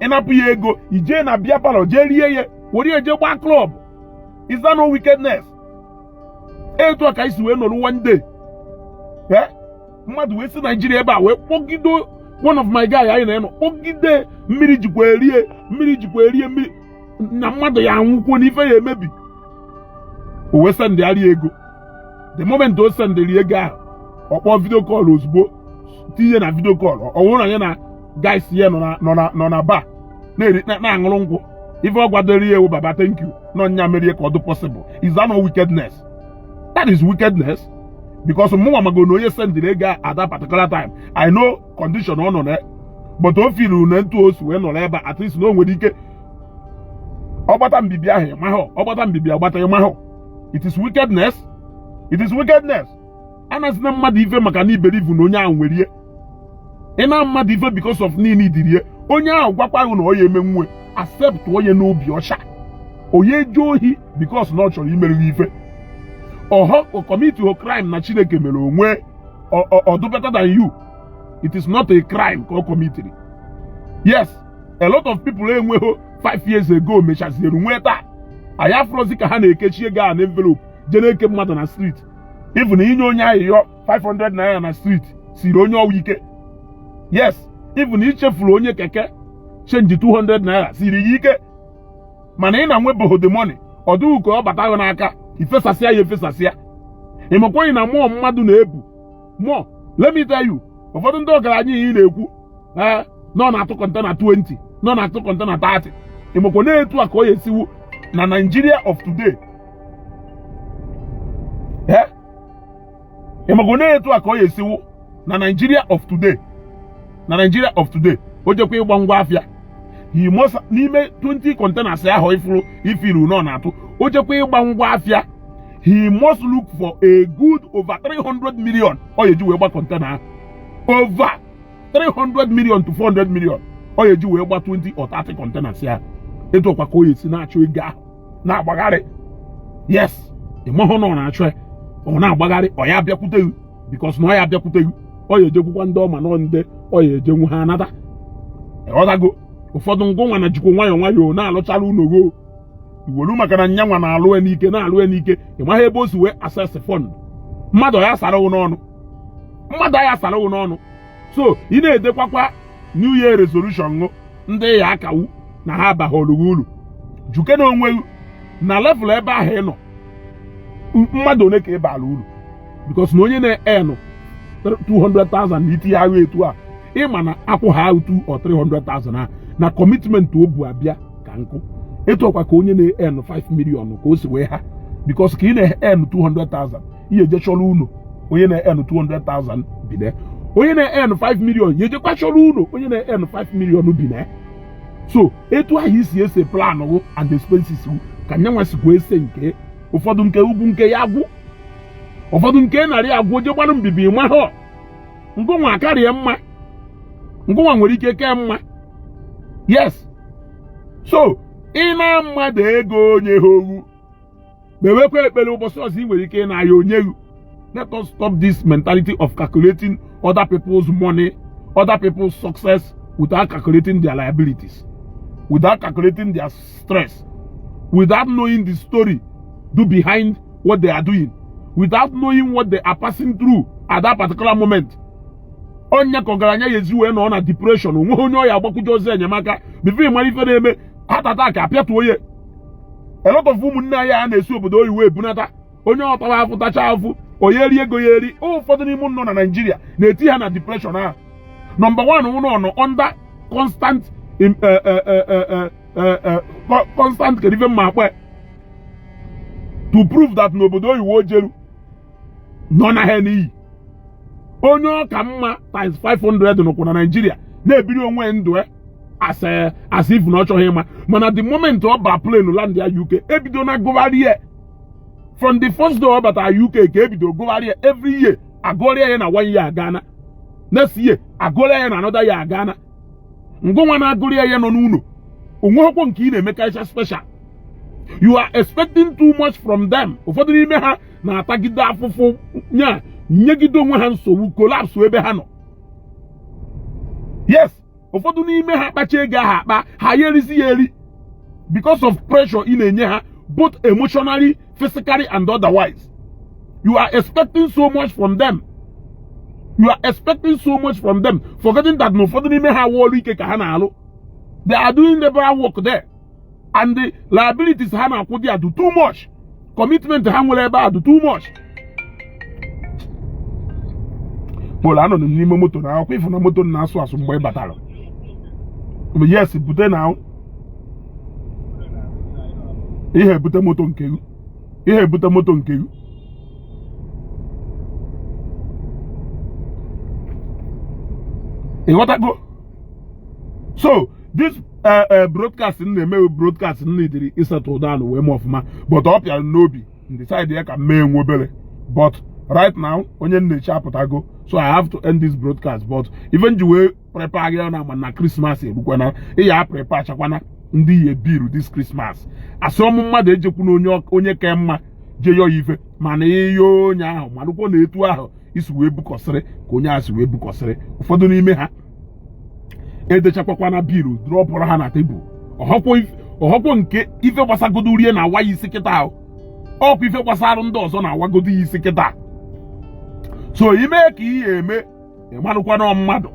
[SPEAKER 1] ị napụ ya ego i jee na beer parlour jee rie ya were ya jee gbaa club is that no wickedness etu a ka anyị si wee nọrọ one day eh? mmadụ wee si Nigeria ebe a wee kpọgide one of my guy anyị na ya nọ kpọgide mmiri jikwa erie mmiri jikwa erie mmiri na mmadụ ya anwụkwuo na ife ya emebi o wee sendịarị ya ego the moment o sendịrị ego ahụ ọ kpọọ video call ozugbo tinye na video call ọ bụrụ na ya na guys ya nọ na bar na-aṅụrụ nkwụ ife ọ gwadoro ya wụ baba thank you na ọ nya meri ka ọ dị possible is that not wickedness that is wickedness because mụnwa mago na onye sendịrị ego at that particular time i know condition ọ nọ na but o feelu na etu o si wee nọrọ ebe at least na o nwere ike ọ gbata mbibi ahụ ị mahụ ọ gbata mbibi agbata ị mahụ it is wickedness it is wickedness anazina mmadụ ife maka na i believe na onye ahụ nwere ihe ị na mmadụ ife because of na i needịrị ihe onye ahụ gwakwa ghụ na ọ ya emenwu acceptuo ya n'obi ọcha onye eje ohi because na ọ chọrọ imere ghị ife ọhọ commit ho crime na chineke mere onwe ọ dụ better than you it is not a crime ka ọ committiri yes a lot of people enweghị 5 years ago mechaziere nwee taa anyị afụrọzi ka ha na-ekechi ego a na envelope je na-eke mmadụ na street even i nye onye ayịyọ 500 naira na street siiri onye ọwa ike yes even i chefuru onye keke change 200 naira siiri ya ike mana ị na-enwebeghị the money ọ dị ghị ka ọ bata gị n'aka i fesasịa ya efesasịa ị makwaghị na mmụọ mmadụ na-ebu mmụọ let me tell you ụfọdụ ndị ọgaranya ị na-ekwu ee na ọ na-atụ container 20 na ọ na-atụ container 30 ị makwa na etu a ka ọ ya esiwu na Nigeria of today ee ị makwa na etu a ka ọ ya esiwu na Nigeria of today na Nigeria of today o jekwa ịgba ngwa afịa he must n'ime 20 containers ahụ ị fụrụ ị fụrụ na ọ na-atụ o jekwa ịgba ngwa afịa he must look for a good over 300 million ọ ya eji wee gba container over 300 million to 400 million ọ ya eji wee gba 20 or 30 containers ya etu a kwa ka o ya si na-achọ ego ahụ na-agbagharị yes ịmahụ na ọ na-achọ ya ọ na-agbagharị ọ ya abịakwute gị because na ọ ya abịakwute gị ọ ya ejekwukwa ndị ọ ma na ọ ndị ọ ya ejenwu ha anata ị ghọtago ụfọdụ ngụnwa na jikwa nwayọọ nwayọọ na-alụchala ụlọ goo iwelu maka na nyanwa na-alụ ya n'ike na-alụ ya n'ike ị maghị ebe o si wee access fund mmadụ ya sara n'ọnụ mmadụ ya sara n'ọnụ so ị na-edekwakwa new year resolution ṅụ ndị ya akawu na ha abaghị olughị ulu jụkene onwe ghụ na level ebe ahụ ị nọ mmadụ one ka ị bara uru because na onye na-earn 200,000 na itinye agha etu a ị ma na akwụ ha ahụ 2 or 300,000 a na commitment o bu abịa ka nkụ etu a kwa ka onye na-earn 5 million ka o si wee ha because ka ị na-earn 200,000 ị ya eje chọrọ ụlọ onye na-earn 200,000 bi na onye na-earn 5 million ya ejekwa chọrọ ụlọ onye na-earn 5 million bi na so etu ahụ i si ese plan gụ and expenses gụ ka nyanwa sikwa ese nke ụfọdụ nke ugwu nke ya agwụ ụfọdụ nke narị agwụ o je gbarụ mbibi mahụ ngụnwa karịa mma ngụnwa nwere ike kee mma yes so ị naa mmadụ ego o nyehọ ghụ kpewekwa ekpere ụbọchị ọzọ ị nwere ike ịna ya o nye gị let us stop this mentality of calculating other people's money other people's success without calculating their liabilities without calculating their stress without knowing the story dụ behind what they are doing without knowing what they are passing through at that particular moment onye ka ọgaranya ya ezi wee nọ na depression onweghị onye ọ ya agbakwuje ozi enyemaka before ị mara ife na-eme heart attack apịatuo ya a lot of ụmụnne anyị a na-esi obodo oyibo ebunata onye tara afụ tacha afụ onye eri ego ya eri ụfọdụ n'ime unu nọ na Nigeria na-eti ha na depression ahụ number one wụ na ọ nọ under constant eh, eh, eh, constant kedu ife m ma akpọ ya to prove that na obodo oyibo o jeru nọ na ha n'iyi onye ọ ka mma times 500 nọkwa na Naịjirịa na-ebiri onwe ndụ as if na ọ chọghị ịma mana the moment ọ ba plane landịa UK ebido na gụgharị ya from the first day ọ batara UK ka ebido gụgharị ya every year agụọrịa ya na one year agana next year agụọrịa ya na another year agana ngụnwa na-agụrịa ya nọ n'ụlọ o nweghịkwọ nke ị na-emekarịcha special you are expecting too much from them ụfọdụ n'ime ha na-atagide afụfụ nyegide onwe ha nsogbu collapse ebe ha nọ yes ụfọdụ n'ime ha kpacha ego ahụ akpa ha ya erizi ya eri because of pressure ị na-enye ha both emotionally physically and otherwise you are expecting so much from them you are expecting so much from them forgetting that na ụfọdụ n'ime ha wụ ọlụ ike ka ha na-alụ they are doing labor work there and the liabilities ha na-akwụ there adụ too much commitment ha nwere ebe a adụ too much well anọ m n'ime moto now ọkwa ị fụ na moto na-asụ asụ mgbe ị batara yes bute na ị ye ebute moto nke gị ị ye ebute moto nke gị ịghọtago so this ee e, broadcast m na-eme wụ broadcast m needịrị ịsettle down wee mee ọfụma but ọ pịara n'obi decide ya ka m mee nwa obere but right now onye m na-eche apụtago so i have to end this broadcast but even ji wee prepare gị na agba na Christmas erukwana ị ya preparechakwana ndị ị ye bill this Christmas asịọ mụ mmadụ ejekwuna onye ka mma je yọọ ife mana ị yọọ onye ahụ malụkwọ na etu ahụ i si wee bukọsịrị ka onye a si wee bukọsịrị ụfọdụ n'ime ha edechakwakwana bill drọpụrụ ha na table ọ họkwọ nke ife gbasagodorị ya na-awa ya isi kịta ahụ ọkwa ife gbasara ndị ọzọ na-awagodo ya isi kịta so i mee ka ị ye eme ị malụkwa na mmadụ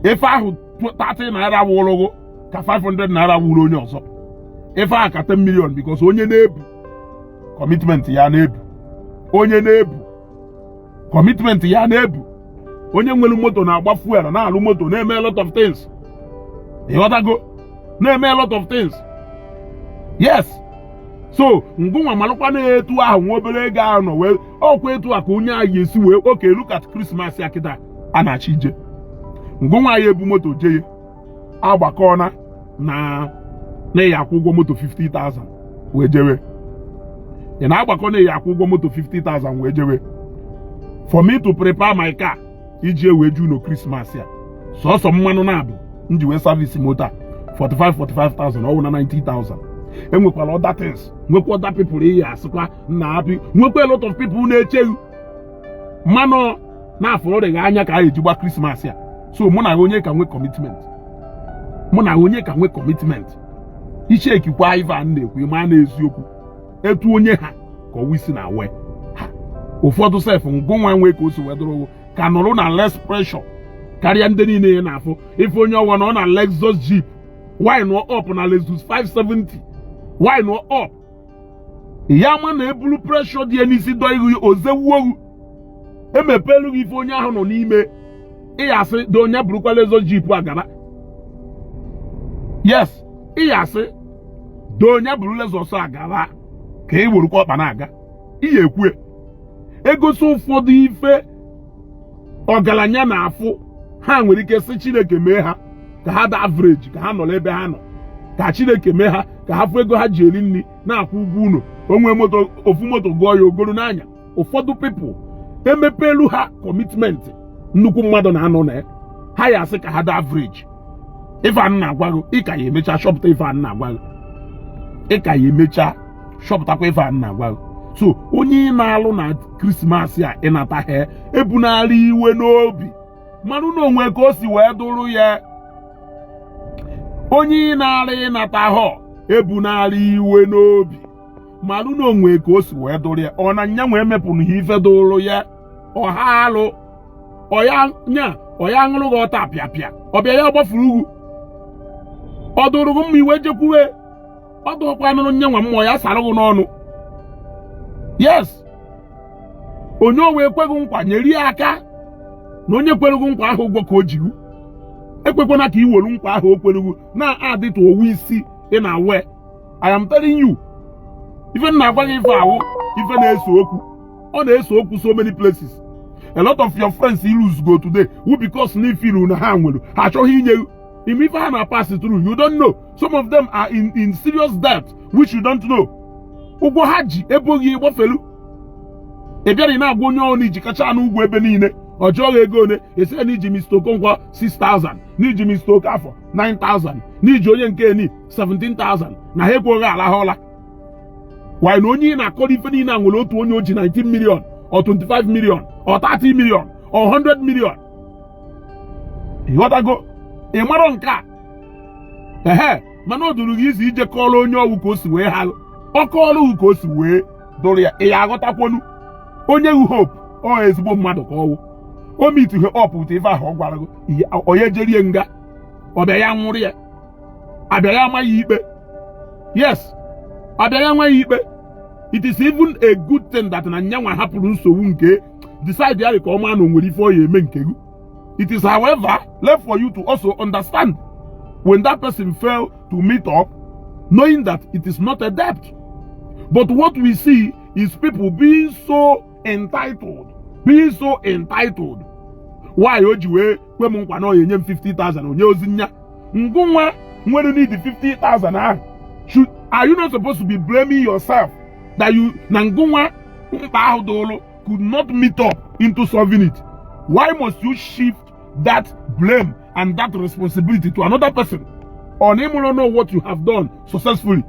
[SPEAKER 1] ife ahụ 30 naira wụrụ gị ka 500 naira wụrụ onye ọzọ ife ahụ ka 10 million because onye na-ebu commitment ya na-ebu onye na-ebu commitment ya na-ebu onye nwere moto na-agba fuel na-alụ moto na-eme a lot of things ịghọtago na-eme a lot of things yes so ngụnwa malụkwa na etu ahụ nwa obere ego ahụ nọ wee ọkwa etu a ka onye a ya esi wee okay look at Christmas ya kịta a na-achọ ije ngụnwa ya ebu moto jee agbakọ na na na ị ya-akwụ ụgwọ moto 50,000 wee jewe ị na-agbakọ na ị ya-akwụ ụgwọ moto 50,000 wee jewe for me to prepare my car iji wee je ụnọ krismas a sọsọ mmanụ naabọ m ji wee service moto a 45 45,000 ọ wụ na 90,000 e nwekwara other things nwekwa other people ị ya-asịkwa na happy nwekwa a lot of people na-eche gị mmanụ na afụrụ gị anya ka ha eji gba krismas a so mụ na ha onye ka nwee commitment ị checkikwa ive a na-ekwu ma na eziokwu etu onye ha ka ọwụ isi na-awa ya ụfọdụ sef ngụ nwa nwee ka o si wee dụrụ gị ka nọrọ na less pressure karịa ndị niile ị na-afụ ife onye ọwa nọ na Lexus Jeep wind up na Lexus 570 wind up ya ama na e bulu pressure dị ya n'isi dọọ gị o zewuo gị e mepeelu gị ife onye ahụ nọ n'ime ị ya-asị doo nya burukwa Lexus Jeep a gaba yes ị ya-asị doo nya buru Lexus a gaba ka ị werukwa ọkpa na-aga ị ya-ekwu ya e gosi ụfọdụ ife ọgaranya na-afụ ha nwere ike sị chineke mee ha ka ha dị average ka ha nọ n'ebe ha nọ ka chineke mee ha ka ha fụ ego ha ji eri nri na-akwụ ụgwọ ụlọ o nwee moto ofu moto gụọ ya o goro na-anya ụfọdụ people e mepeelu ha commitment nnukwu mmadụ na-anọ na ya ha ya-asị ka ha dị average ife a na-agwa gị ị ka ya-emecha chọpụta ife a na-agwa gị ị ka ya-emecha chọpụtakwa ife a na-agwa gị so onye ị na-arịọ na krismas a ị nataha ebunara ya iwe n'obi malụ na o nwe ka o si wee dụrụ ya onye ị na-arịọ ị nataha ebunara ya iwe n'obi malụ na o nwe ka o si wee dụrụ ya ọ na nya nwee mepụrụ ha ife dụrụ ya ọha alụ ọ ya nya ọ ya-aṅụrụ gị ọtapịapịa ọ bịa ya gbafuru gị ọ dụrụ gị mma i wee jekwuwe ọ dụrụkwa nụrụ nye nwa mmụọ ya sara gị n'ọnụ yes onye ọ wụ kwe gị nkwa nyere ya aka na onye kwere gị nkwa ahụ ụgwọ ka o ji gị ekwekwana ka i welu nkwa ahụ o kwere gị na-adịtụ ọwụ isi na-awa ya I am telling you ife na-agwa gị ife a wụ ife na-ese okwu ọ na-ese okwu so many places a lot of your friends i lose-go today wụ because na i feel-lu na ha nwere ha achọghị inye gị ị ma ife ha na-apass through you don't know some of them are in in serious debt which you don't know ụgwọ ha ji e bo gị ị gbafelu ị bịara ị na-agwa onye ahụ na i jikachanụ ụgwọ ebe niile ọ jụọ gị ego one ị sị na i ji Mr. Okonkwo 6000 na i ji Mr. Okafor 9000 na i ji onye nke ni 17000 na ha ekweghị alahụ ụla while na onye ị na-akọrọ ife niile a nwere otu onye o ji 19 million or 25 million or 30 million or 100 million ị ghọtago ị marọ nke a ehe mana ọ dụrụ gị easy ije kọọrọ onye ọ wụ ka o si wee ha ọ kọọrọ gị ka o si wee dụrụ ya ị ya aghọtakwonu onye wu hope ọ ezigbo mmadụ ka ọ wụ o meetihe up with ife ahụ ọ gwara gị ọ ya ejere ya nga ọ bịa ya nwụrụ ya abịa ya amaghị ikpe yes abịa ya amaghị ikpe it is even a good thing that na nyanwa hapụrụ nsogbu nke decide ya ka ọ maa na o nwere ife ọ ya eme nke gị it is however left for you to also understand when that person fail to meet up knowing that it is not a debt but what we see is people being so entitled being so entitled why o ji wee kwe m nkwa na ọ enye m 50,000 o nyehọzi ya ngụ nwa nwere need 50,000 ahụ should are you not supposed to be blaming yourself that you na ngụ nwa mkpa ahụ dụrụ could not meet up into solving it why must you shift that blame and that responsibility to another person ọ na ị mahọ na what you have done successfully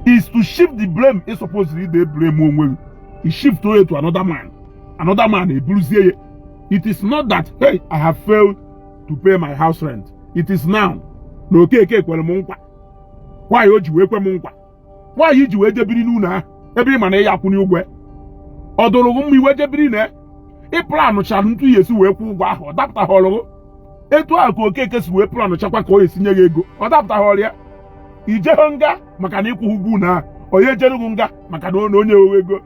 [SPEAKER 1] is to shift the blame ị supposed ịblame onwe gị shift ya to another man another man eburuzie ya it is not that hey i have failed to pay my house rent it is now na okeke kwere m nkwa why o ji wee kwe m nkwa why i ji wee jebiri n'ụlọ ahụ ebe ị ma na ị ya akwụni ụgwọ ọ dụrụ gị mma i wee jebiri na ị planụchara etu ị ya esi wee kwụ ụgwọ ahụ ọ dapụtaghọrọ gị etu ahụ ka okeke si wee planụ chakwa ka ọ ya esi nye gị ego ọ dapụtaghọrọ ya ijeghị nga maka na ịkwụghị ụgwọ ụlọ ahụ ọ nya ejere gị nga maka na o nyehọ gị ego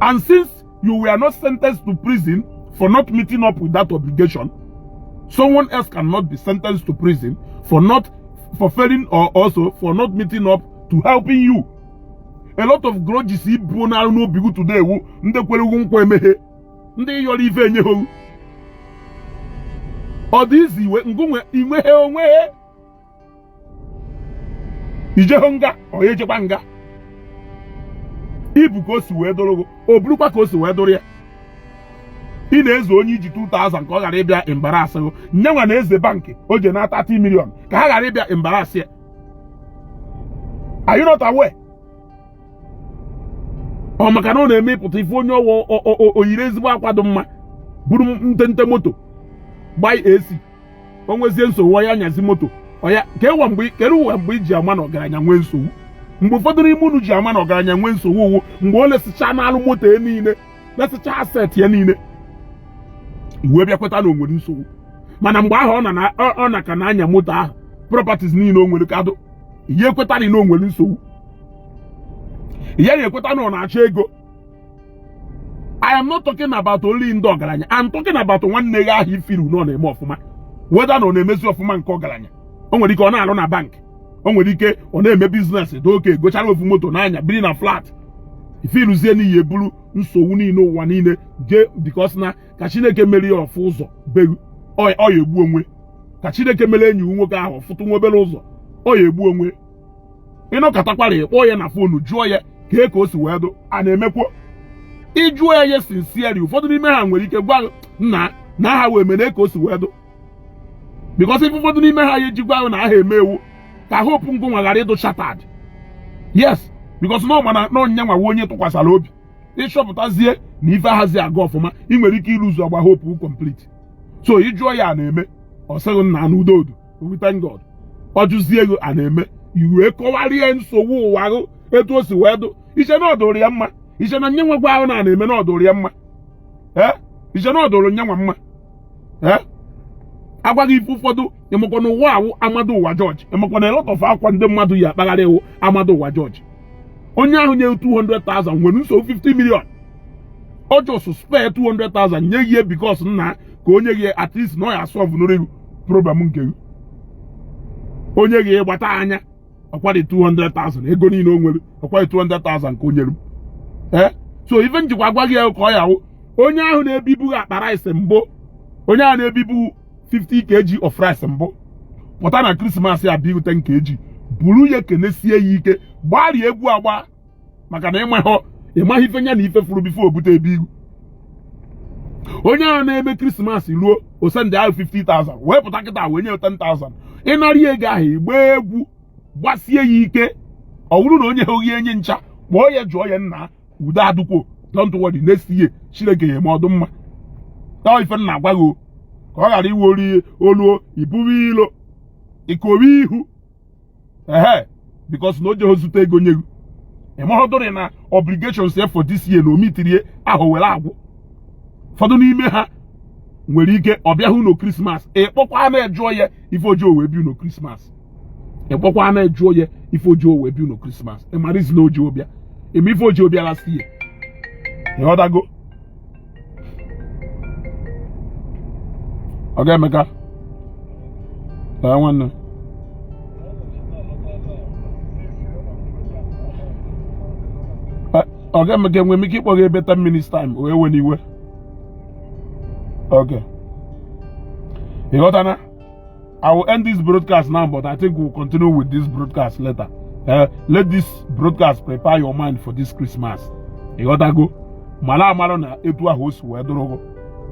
[SPEAKER 1] And since you were not sentenced to prison for not meeting up with that obligation, someone else cannot be sentenced to prison for failing or also for not meeting up to helping you. A lot of grudges i bu n'arụ n'obi gị today wu ndị kwere gị nkwa emeghe ndị ị yọrọ ife enyehọ gị ọ dị easy iwe ngụ nwa i nwehọ o nwehọ ijeho nga ọ nya ejekwa nga i bu ka o si wee dụrụ gị o burukwa ka o si wee dụrụ ya ị na-eze onye i ji 2000 ka ọ ghara ịbịa embarasị gị nya nwa na-eze bankị o je na 30 million ka ha ghara ịbịa embarasị ya are you not aware ọ maka na ọ na-eme ị pụta ị fụ onye ọ wụ o yiri ezigbo akwa dị mma buru ntente moto gbai AC o nwezie nsogbu ya nyazi moto ọya kedụwa mgbe i ji ama na ọgaranya nwee nsogbu mgbe ụfọdụ n'ime unu ji ama na ọgaranya nwee nsogbu wụ mgbe o lesịcha n'alụ moto ya niile lesịcha asset ya niile i wee bịa kweta na o nwere nsogbu mana mgbe ahụ ọ na ka na-anya moto ahụ properties niile o nwere ka dụ ị ya-ekweta na o nwere nsogbu ị ya-ekweta na ọ na-achọ ego I am not talking about only ndị ọgaranya I'm talking about nwanne gị ahụ ị furu na ọ na-eme ọfụma whether na ọ na-emezi ọfụma nke ọgaranya o nwere ike ọ na-alụ na bank o nwere ike ọ na-eme business dị okay gochara ofu moto na-anya biri na flat ị furuzie na ị ya-eburu nsogbu niile ụwa niile jee because na ka chineke mere ya ọ fụ ụzọ be ghụ ọ ya-egbu onwe ka chineke mere enyi nwoke ahụ fụtụ nwa obere ụzọ ọ ya-egbu onwe ị nọkatakwara ị kpọọ ya na fonu jụọ ya kee ka o si wee dụ a na-emekwo ị jụọ ya sincerely ụfọdụ n'ime ha nwere ike gwa ghụ na aha wee mene ka o si wee dụ bikọs ife ụfọdụ n'ime ha ya-eji gwa ghụ na a na-eme wụ ka hope ngụ nwa ghara ịdụ shattered yes bikọs na ọmana na onye nwa onye tụkwasara obi ị chọpụtazie na ife ahazi aga ọfụma ị nwere ike ịlose agba hope complete so ị jụọ ya a na-eme ọ sị gị nna na udo dụ we thank God ọ jụzie ghụ a na-eme i wee kọwara ya nsogbu ụwa ghụ etu o si wee dụ i che na ọ dụrụ ya mma i che na nya nwa gwa ghụ na a na-eme na ọ dụrụ ya mma ee i che na ọ dụrụ nya nwa mma ee a gwa gị ife ụfọdụ ị makwa na ụwa a wụ a mado ụwa jọji ị makwa na a lot of akwa ndị mmadụ yi akpagharị wụ a mado ụwa jọji onye ahụ nye 200,000 nwere nsogbu 50 million ọ just spare 200,000 nye gị because na ka o nye gị at least na ọ ya-asọvụ n'oriru problem nke gị o nye gị ị gbata anya ọkwadị 200,000 ego niile o nwere ọkwadị 200,000 ka o nyere m eh? so ife m jikwa agwa gị ya ka ọ ya-awụ onye ahụ na-ebibu akpa rice mbụ onye ahụ na-ebibu 50 kg of rice mbụ pụta na krismas ya bi ghụ 10 kg buru ya kenesie ya ike gbara ya egwu agba maka na ị maghị ị maghị ife nya na ife furu before o bute be ghụ onye ahụ na-eme krismas ruo o sendịara ghụ 50,000 wee pụta kịta wee nye 10,000 ị nara ya ego ahụ ị gbaa egwu gbasie ya ike ọ bụrụ na o nyehọ gị enye ncha kpọọ ya jụọ ya nna udo adụkwo don't worry next year chineke ya-eme ọ dụ mma ọ ife m na-agwa gị ka ọ ghara ịwụ olu oluo i buru ilo i kowe ihu ehe because na o jeghị zute ego nye gị ị mahọdụrị na obligations ya for this year na o mitiri ya ahọ were agwụ ụfọdụ n'ime ha nwere ike ọ bịaghị ụnọ krismas ị kpọkwanụ ya jụọ ya ife o jihọ wee bịa ụnọ krismas ị kpọkwanụ ya jụọ ya ife o jihọ wee bịa ụnọ krismas ị marazi na o jihọ bịa ị ma ife o jihọ bịa last year ị ghọtago ọ ga-emeka nwanne ọ ga-emeka enwe m ike ịkpọ gị ebe 10 minutes time wee wena iwe okay ịghọtana I will end this broadcast now, but I think we'll continue with this broadcast later. Uh, let this broadcast prepare your mind for this Christmas. Ị ghọtago. Mala amala na etu ahụ o si wee dụrụ gị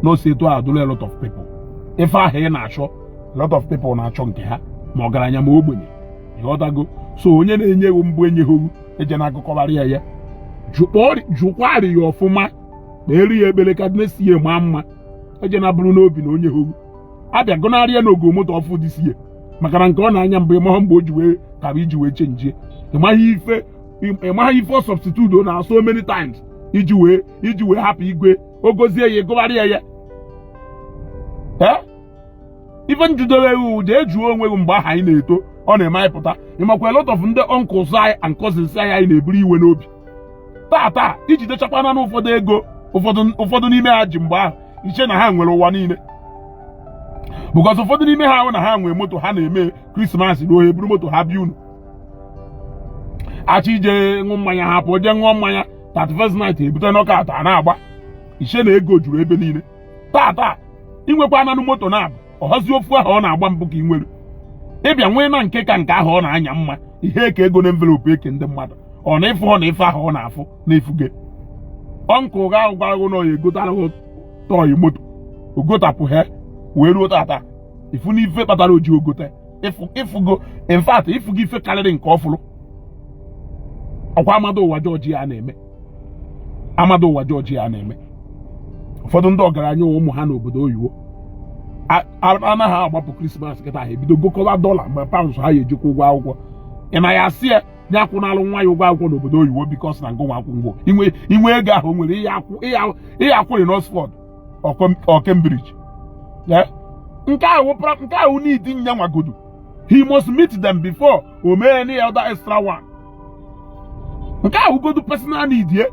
[SPEAKER 1] na o si etu ahụ dụrụ a lot of people. Ife ahụ ị na-achọ a lot of people na-achọ nke ha ma ọgaranya ma ogbenye. Ị ghọtago. So onye na-enye gị mbụ enyehọ gị ejena agụkọbara ya ya. Jụkwaa arụ ya ọfụma kpeere ya ekpele ka the next year maa mma. Ejena buru n'obi na o nyehọ gị abịa gụnara ya na o go moto ọfụụ this year maka na nke ọ na-anya mbụ ịmaghị mgbe o ji wee kaa iji wee chenjie ịmaghị ife ịmaghị ife ọ substitute na so many times iji wee iji wee hapụ igwe o gozie ya gụgharịa ya ife njidere ewu jee jụọ onwe gị mgbe ahụ anyị na-eto ọ na-eme anyị pụta ịmakwa a lot of ndị uncles anyị and cousins anyị na-eburu iwe n'obi tata i jidechakwananụ ụfọdụ ego ụfọdụ n'ime ha ji mgbe ahụ i che na ha nwere ụwa niile because ụfọdụ n'ime ha ahụ na ha nwee moto ha na-eme Christmas ruo eburu moto ha bịa unu achọ ije ṅụọ mmanya ha pụọ jee ṅụọ mmanya 31st night ebute knockout a na-agba i che na ego juru ebe niile tata i nwekwananụ moto na-abụ ọhazi ofu ahụ ọ na-agba mbụ ka ị nwere ị bịa nweena nke ka nke ahụ ọ na-anya mma ihe eke ego na envelope eke ndị mmadụ ọ na ị fụhọ na ife ahụ ọ na-afụ na ị fụge uncle gị ahụ gwara gị na ọ ya egotara toy moto o gotapụhe wee ruo tata ị fụna ife kpatara o ji o gote ịfụgo in fact ịfụgo ife karịrị nke ọ fụrụ ọ kwa amado ụwa jọji a na-eme amado ụwa jọji a na-eme ụfọdụ ndị ọgaranya ụmụ ha n'obodo oyibo na ha agbapụ Christmas kịta ha ebido gokọba dollar ma pounds ha ya eji kwụọ ụgwọ akwụkwọ ị na ya asị ya ye akwụnalụ nwa ya ụgwọ akwụkwọ n'obodo oyibo because na ngụnwa akwụ ngwọ inwe ego ahụ o nwere ị ya akwụrị n'Oxford or Cambridge nke ahụ nke a wụ need nyanwa godu he must meet them before o mee any other extra one nke a wụ godu personal need ye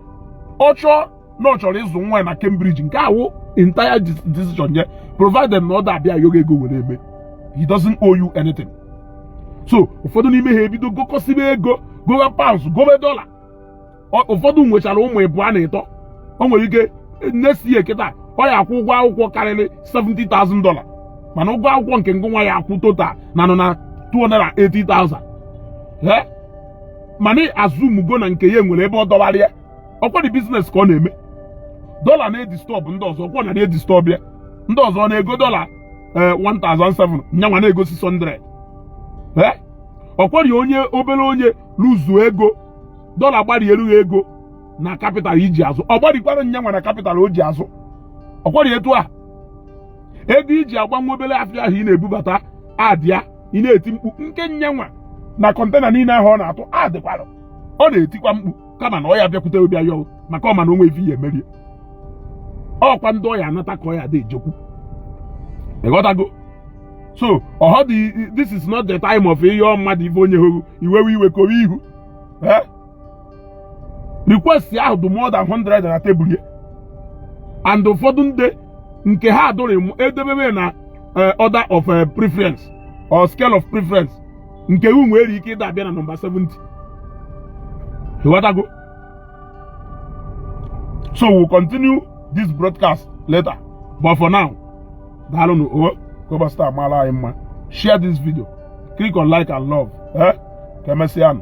[SPEAKER 1] ọ chọọ na ọ chọrọ ịzụ nwa ya na Cambridge nke a wụ entire decision ye provided na ọ da abịa yọọ gị ego were eme he doesn't owe you anything so ụfọdụ n'ime ha ebido gokọsibe ego gowe pounds gowe dollar ụfọdụ nwechara ụmụ ịbụọ na ịtọ o nwere ike next year kịta ọ ya akwụ ụgwọ akwụkwọ karịrị 70,000 dollar mana ụgwọ akwụkwọ nke ngụnwa ya akwụ total na nọ na 280,000 ee mana azụmugo na nke ya nwere ebe ọ dọwara ya ọkwari biznes ka ọ na-eme dọla na-edistọbụ ndị ọzọ ọkwa na na-edistọbụ ya ndị ọzọ na-ego dọla 1,700 eh, nyanwa na-ego 600 ee ọkwari onye obere onye lụzuo ego dọla gbarieru ghị ego na kapital i ji azụ ọ gbarikwara nyanwa na kapital o ji azụ ọkwari etu a ego i ji agba nwa obere afịa ahụ ị na-ebubata adịa ị na-eti mkpu nke nyanwa na kọntena niile ahụ ọ na-atụ adịkwara ọ na-etikwa mkpu kama na ọ ya bịakwute obi ayọ maka ọ ma na o nwe ife ya emerie ọkwa ndị ọ ya anata ka ọ ya dị ejekwu ịghọtago so ọhọ dị this is not the time of ihe mmadụ ife onye hụrụ i wewe iwe kowe ihu request ahụ dị more than 100 na tebụl ya and ụfọdụ ndị nke ha adụrụ edebebe na eh, order of eh, preference or scale of preference nke u nwere ike ịda abịa na nọmba 70 ịghọtago so we'll continue this broadcast later but for now daalụnụ o oh, Global Star maara anyị mma share this video click on like and love eh? ka emesịanụ